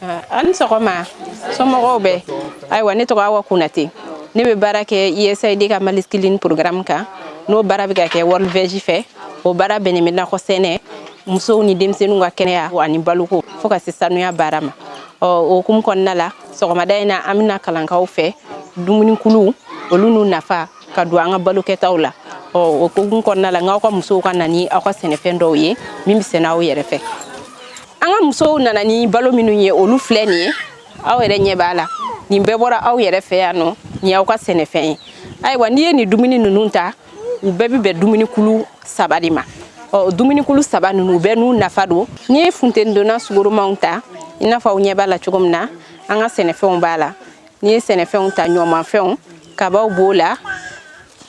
Ah, a ni sɔgɔma somɔgɔw bɛɛ ayiwa ne tɔgɔ awa kunate ne bɛ baara kɛ usaid ka mali scaling programme kan n'o baara bɛ ka kɛ world veg fɛ o baara bɛnnen bɛ nakɔ sɛnɛ musow ni denmisɛnninw ka kɛnɛya ani baloko fo ka se sanuya baara ma ɔ o hukumu kɔnɔna la sɔgɔmada in na an bɛna kalan k'aw fɛ dumunikuluw olu n'u nafa ka don an ka balo kɛtaw la ɔ o hukumu kɔnɔna la n k'aw ka musow ka na ni aw ka sɛnɛfɛn dɔw ye min bɛ sɛnɛ aw yɛrɛ fɛ an ka musow nana ni balo minnu ye olu filɛ nin ye aw yɛrɛ ɲɛ b'a la nin bɛɛ bɔra aw yɛrɛ fɛ yan nɔ nin y'aw ka sɛnɛfɛn ye ayiwa n'i ye nin dumuni ninnu ta u bɛɛ bɛ bɛn dumunikulu saba de ma ɔ dumunikulu saba ninnu u bɛɛ n'u nafa don n'i ye funtenidonna sukaromanw ta i n'a fɔ aw ɲɛ b'a la cogo min na an ka sɛnɛfɛnw b'a la n'i ye sɛnɛfɛnw ta ɲɔmanfɛnw kabaw b'o la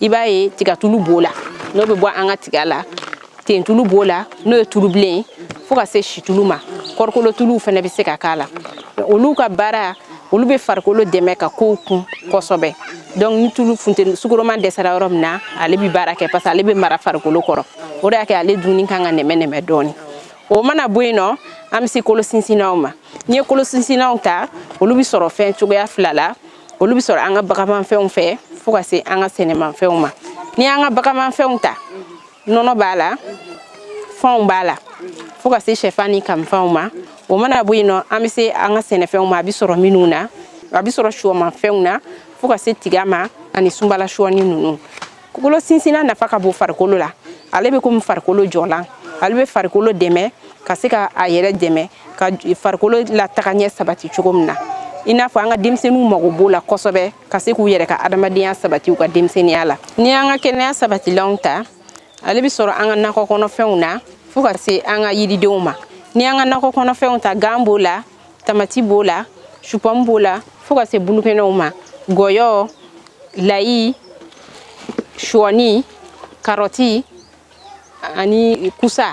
i b'a ye tigatulu b'o la n'o bɛ bɔ an ka tiga la tentulu b'o la n'o ye tulu bilen ye fo ka se situlu ma kɔrikolotuluw fana bɛ se ka k'a la olu ka baara olu bɛ farikolo dɛmɛ ka kow kun kosɛbɛ donc ni tulu funteni sukaroman dɛsɛra yɔrɔ min na ale bɛ baara kɛ parce que ale bɛ mara farikolo kɔrɔ o de y'a kɛ ale dunni kan ka nɛmɛ nɛmɛ dɔɔni o mana bɔ yen nɔ an bɛ se kolo sinsinnaw ma n'i ye kolo sinsinnaw ta olu bɛ sɔrɔ fɛn cogoya fila la olu bɛ sɔrɔ an ka baganmanfɛnw fɛ fo ka se an ka sɛnɛmanfɛnw ma n'i y'an ka baganmanfɛnw ta nɔnɔ b'a la fanw b'a la fo ka se sɛfan ni kamifanw ma o mana bɔ yen nɔ an bɛ se an ka sɛnɛfɛnw ma a bɛ sɔrɔ minnu na a bɛ sɔrɔ sɔmafɛnw na fo ka se tiga ma ani sunbala sɔɔni ninnu kolo sinsinna nafa ka bon farikolo la ale bɛ komi farikolo jɔlan ale bɛ farikolo dɛmɛ ka se ka a yɛrɛ dɛmɛ ka farikolo lataga ɲɛ sabati cogo min na i n'a fɔ an ka denmisɛnninw mago b'o la kosɛbɛ ka se k'u yɛrɛ ka adamadenya sabati u ka denmisɛnninya la n'i y'an ka kɛnɛya sabatilanw ta ale bɛ sɔrɔ an ka nakɔ kɔnɔfɛnw na fo ka se an ka yiridenw ma n'i y'an ka nakɔ kɔnɔfɛnw ta gan b'o la tamati b'o la supɔmu b'o la fo ka se bulukɛnɛw ma gɔyɔ layi shɔni karɔti ani kusa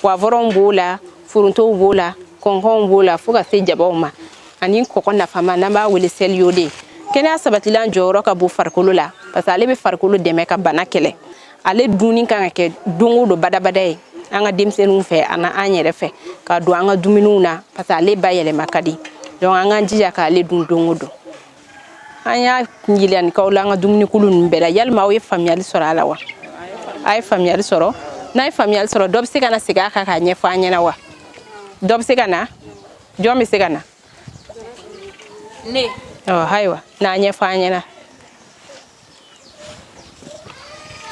poivronw b'o la forontow b'o la kɔnkɔnw b'o la fo ka se jabaw ma ani kɔkɔ nafama n'an b'a wele sel iodé kɛnɛya sabatilan jɔyɔrɔ ka bon farikolo la parce que ale bɛ farikolo dɛmɛ ka bana kɛlɛ ale dunni kan ka kɛ don o don badabada ye an ka denmisɛnninw fɛ ani an yɛrɛ fɛ ka don an ka dumuniw na parce que ale bayɛlɛma ka di donc an k'an jija k'ale dun don o don an ye jirali min k'aw la an ka dumunikulu ninnu bɛɛ la yalima aw ye faamuyali sɔrɔ a la wa a ye faamuyali sɔrɔ n'a ye faamuyali sɔrɔ dɔ bɛ se ka na segin a kan k'a ɲɛfɔ an ɲɛna wa dɔ bɛ se ka na jɔn bɛ se ka na ne ayiwa n'a ɲɛfɔ an ɲɛna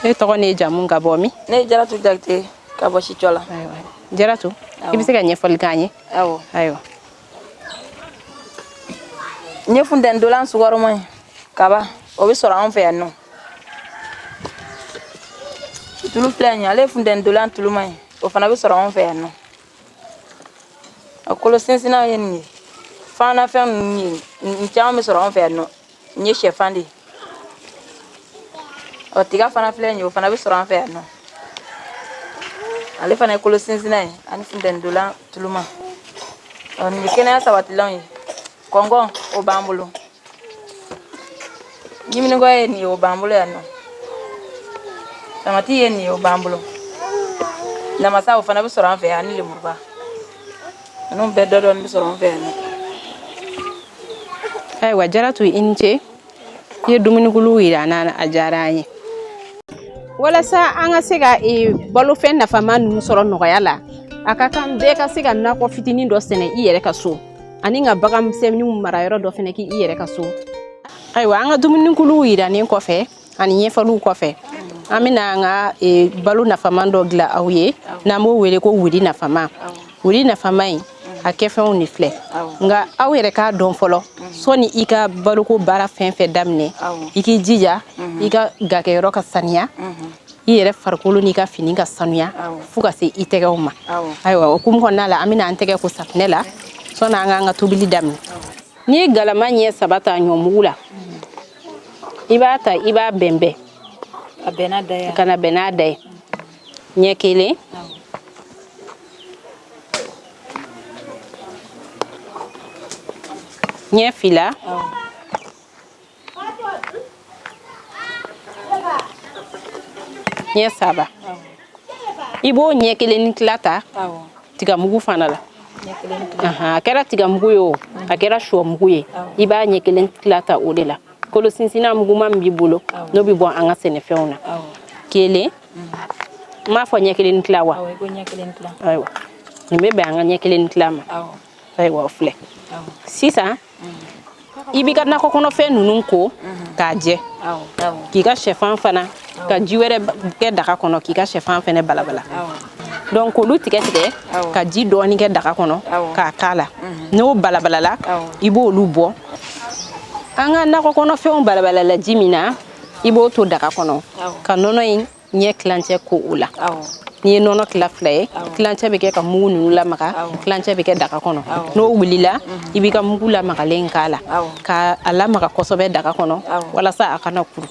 e tɔgɔ n'i jamu ka bɔ min ne jaratu jakite ka bɔ sicɔla jaratu i bɛ se ka ɲɛfɔli k'an ye awɔ ayiwa nin ye funteni dolan sukaroma ye kaba o bɛ sɔrɔ anw fɛ yan nɔ tulu filɛ nin ye ale ye funteni dolan tuluma ye o fana bɛ sɔrɔ anw fɛ yan nɔ a kolo sinsinnaw ye nin ye fanafɛn ninnu ye nin caman bɛ sɔrɔ anw fɛ yan nɔ Nin ye shɛfan de ye ɔ tiga fana filɛ nin ye o fana bɛ sɔrɔ an fɛ yan nɔ ale fana ye kolo sinsinna ye ani funteni dolan tuluma ɔ nin ye kɛnɛya sabatilanw ye kɔngɔn o b'an bolo ɲiminigɔ ye nin ye o b'an bolo yan nɔ tamati ye nin ye o b'an bolo namasa o fana bɛ sɔrɔ an fɛ yan ani lemuruba Ninnu bɛɛ dɔ dɔɔni bɛ sɔrɔ an fɛ yan. Ayiwa Jaratu i ni ce. I ye dumunikuluw jira an na, a diyara an ye. Walasa an ka se ka ee balofɛn nafama ninnu sɔrɔ nɔgɔya la, a ka kan bɛɛ ka se ka nakɔ fitinin dɔ sɛnɛ i yɛrɛ ka so ani ka bagan misɛnninw marayɔrɔ dɔ fɛnɛ k'i yɛrɛ ka so. Ayiwa an ka dumunikuluw jiranen kɔfɛ, ani ɲɛfɔliw kɔfɛ an bɛna an ka e, balo nafama dɔ dilan aw ye n'an b'o wele ko wuri nafama wuri nafama in a kɛfɛnw de filɛ nka aw yɛrɛ k'a dɔn fɔlɔ sɔni i ka baloko baara fɛn fɛn daminɛ i k'i jija i ka gakɛyɔrɔ ka saniya i yɛrɛ farikolo n'i ka fini ka sanuya fo ka se i tɛgɛw ma ayiwa o hukumu kɔnɔna la an bɛna an tɛgɛ ko safinɛ la sɔni an k'an ka tobili daminɛ n'i ye galama ɲɛ saba ta ɲɔmugu la i b'a ta i b'a bɛnbɛn ka na bɛn n'a da ye ɲɛ kelen ɲɛ fila ɲɛ saba i b'o ɲɛ kelen ni tila ta tigamugu fana la a kɛra tigamugu ye o a kɛra shɔ mugu ye i b'a ɲɛ kelen tila ta o de la kolo sinsinna muguma min b'i bolo n'o bɛ bɔ an ka sɛnɛfɛnw na kelen n m'a fɔ ɲɛ kelen ni tila wa ayiwa nin bɛ bɛn an ka ɲɛ kelen ni tila ma ayiwa o filɛ sisan i b'i ka nakɔ kɔnɔfɛn ninnu ko k'a jɛ k'i ka sɛfan fana ka ji wɛrɛ kɛ daga kɔnɔ k'i ka sɛfan fana balabala donc k'olu tigɛ tigɛ ka ji dɔɔni kɛ daga kɔnɔ k'a k'a la n'o balabalala i b'olu bɔ an ka nakɔ kɔnɔfɛnw balabalala ji min na i b'o to daga kɔnɔ ka nɔnɔ in N'i ye tilancɛ ko o la n'i ye nɔnɔ tila fila ye tilancɛ bɛ kɛ ka mugu ninnu lamaga tilancɛ bɛ kɛ daga kɔnɔ n'o wulila i b'i ka mugu lamagalen k'a la ka a lamaga kosɛbɛ daga kɔnɔ walasa a kana kuru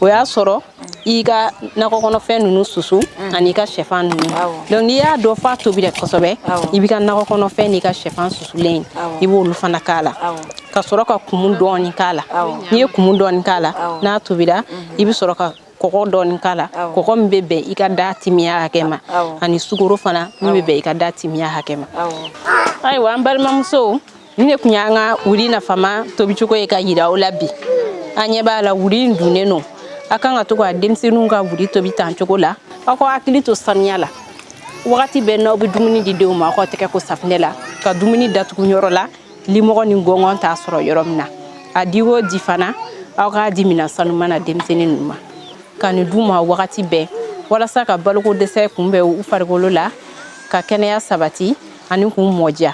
o y'a sɔrɔ i ka nakɔ kɔnɔfɛn ninnu susu an'i ka shɛfan ninnu donc n'i y'a dɔn f'a tobira kosɛbɛ i b'i ka nakɔ kɔnɔfɛn n'i ka shɛfan susulen i b'olu fana k'a la ka sɔrɔ ka kumu dɔɔni k'a la n'i ye kumu dɔɔni k'a la n'a tobira i bɛ sɔrɔ ka kɔgɔ dɔɔni k'a la kɔgɔ min bɛ bɛn i ka da timiya hakɛ ma ani sukaro fana min bɛ bɛn i ka da timiya hakɛ ma ayiwa an balimamusow nin de tun y'an ka wuri nafama tobicogo ye ka yira aw la bi an ɲɛ b'a la wuri in dunnen don a kan ka to ka denmisɛnninw ka wuri tobi tan cogo la aw ka hakili to saniya la wagati bɛɛ n'aw bɛ dumuni di denw ma aw ka tɛgɛ ko safinɛ la ka dumuni datugu yɔrɔ la limɔgɔ ni gɔngɔn t'a sɔrɔ yɔrɔ min na a di o di fana aw k'a di minɛn sanuman na denmisɛnnin ninnu ma ka nin d'u ma wagati bɛɛ walasa ka baloko dɛsɛ kunbɛn u farikolo la ka kɛnɛya sabati ani k'u mɔdiya